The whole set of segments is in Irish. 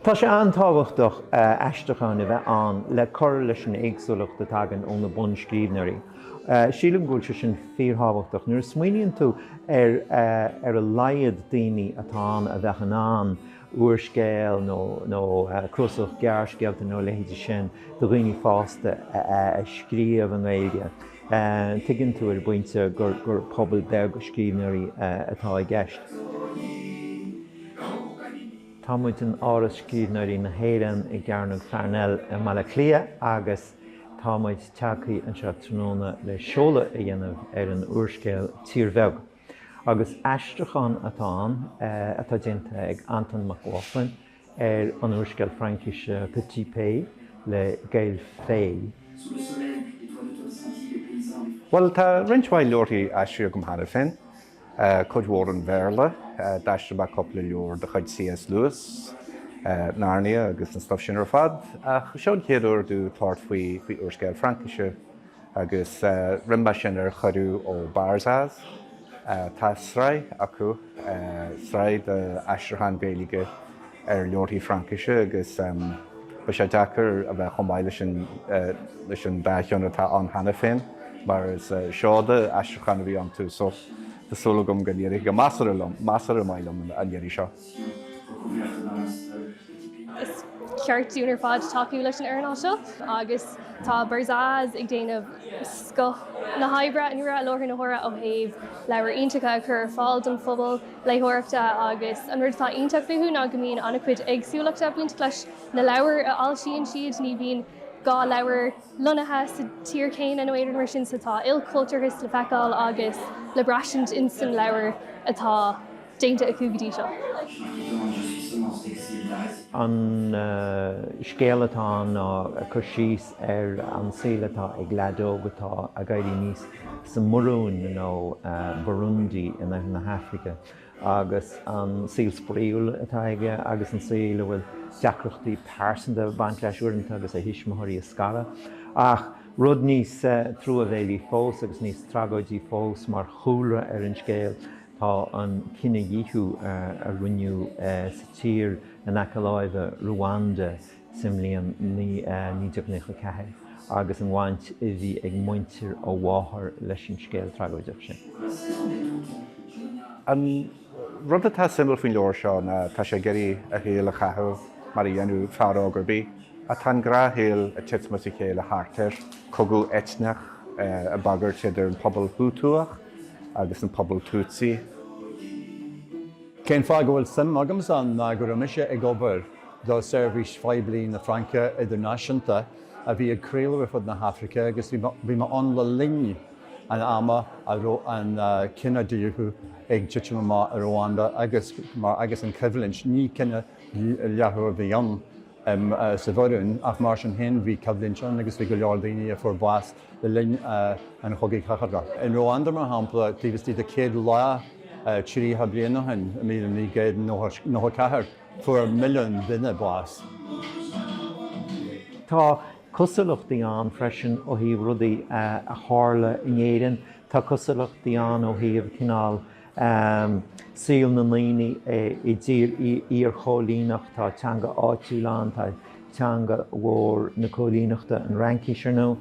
Tá sé an-tábhachtach aistriúcháin a bheith ann le cur leis an éagsúlacht a thagann ó na bunscríbhneoirí. Sílim go bhfuil sé sin fíorthábhachtach. Nuair a smaoiníonn tú ar ar a laghad daoine atá ann a bheadh in ann úrscéal nó cnuasach gearrscéalta nó a leithéid sin do dhaoine fásta a scríobh i nGaeilge, Tuigeann tú ar an bpointe gur pobal beag scríbhneoirí atá i gceist. Tá muid in Áras Scríbhneoirí na hÉireann i gCearnóg Pharnell i mBaile Átha Cliath agus tá muid tagtha anseo tráthnóna le seoladh a dhéanamh ar an úrscéal Tír Bheag, agus aistriúchán atá ann atá déanta ag Antain Mac Lochlainn. ar an úrscéal Fraincise Petit Pays le Gaël Faye. Bhuel, tá roinnt mhaith leabharthaí aistrithe agam cheana féin, cuid mhór ón Bhéarla, d'aistrigh mé cúpla leabhar de chuid C.S. Lewis, Narnia agus an stuif sin ar fad, ach seo an chéad uair domh tabhairt faoi úrscéal Fraincise. Agus rinne mé sin ar chuireadh ó Barzaz, tá sraith acu, sraith d'aistriúcháin Ghaeilge ar leabharthaí Fraincise agus bheadh sé deacair a bheith chomh maith leis an dá cheann atá ann cheana féin mar is seoda aistriúcháin a bhí iontu so tá súil agam go n-éireoidh go measartha maith liom an iarraidh seo. Is ceart dúinn ar fad tacú leis an earnáil seo agus tá Barzaz ag déanamh scoth na hoibre i láthair na huaire ó thaobh leabhair iontacha a chur ar fáil don phobal léitheoireachta agus an rud atá iontach fúthu ná go mbíonn an-chuid éagsúlachta ag baint leis na leabhair a fhoilsíonn siad, ní bhíonn dhá leabhar lonnaithe sa tír chéanna nó aon rud mar sin so tá ilchultúrthas le feiceáil agus le braistint insan leabhar atá. déanta acu go dtí seo. An scéal atá ann ná cur síos ar an saol atá ag leaid óg atá ag éirí aníos sa mBurúin, nó Burundi, in oirthear na hAifrice, agus an saol spraíúil atá aige agus an saol a bhfuil deacrachtaí pearsanta ag baint leis uaireanta agus a thuismitheoirí ag scaradh. Ach rud níos truamhéalaí fós agus níos tragóidí fós mar chúlra ar an scéal Tá an cinedhíothú a rinneadh sa tír in aice láimhe, Ruanda, sa mbliain 1994 agus an bhaint a bhí ag muintir a mháthar leis an scéal tragóideach sin. An rud atá suimiúil faoin leabhar seo ná tá sé ag iarraidh a shaol a chaitheamh mar a dhéanadh fear óg ar bith. Ach tá an gnáthshaol ag titim as a chéile thart air, cogadh eitneach ag bagairt idir an pobal Hútúach, agus an pobal Tutsi. Cén fáth go bhfuil suim agamsa ann ná go raibh mise ag obair do seirbhís phoiblí na Fraince idirnáisiúnta a bhí ag craoladh ar fud na hAfraice agus bhí mé ann le linn an ama a raibh an cinedhíothú ag titim amach i Ruanda agus mar agus an choimhlint, ní cinedhíothú a bhí ann sa Bhurúin ach mar sin féin bhí coimhlint ann agus bhí go leor daoine a fuair bás le linn an Chogaidh Chathartha. I Ruanda, mar shampla, taobh istigh de 100 lá, tríocha bliain ó shin, i míle naoi gcéad nócha ceathair, fuair milliún duine bás. Tá cosúlachtaí ann freisin ó thaobh rudaí a tharla in Éirinn. Tá cosúlachtaí ann ó thaobh cineál saol na ndaoine i dtír iarchoilíneach. Tá teanga áitiúil ann, tá teanga mhór na coilíneachta, an Fhraincis, ar ndóigh.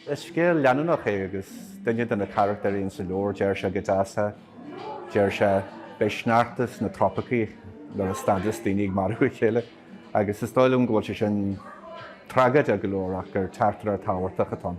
Is scéal leanúnach é agus duine de na carachtair insa leabhar deir sé go deas é, deir sé, Beidh sneachta sna trópaicí nuair a stadfas daoine ag marú a chéile. Agus is dóigh liom go bhfuil sé sin tragóideach go leor ach gur teachtaireacht thábhachtach atá ann.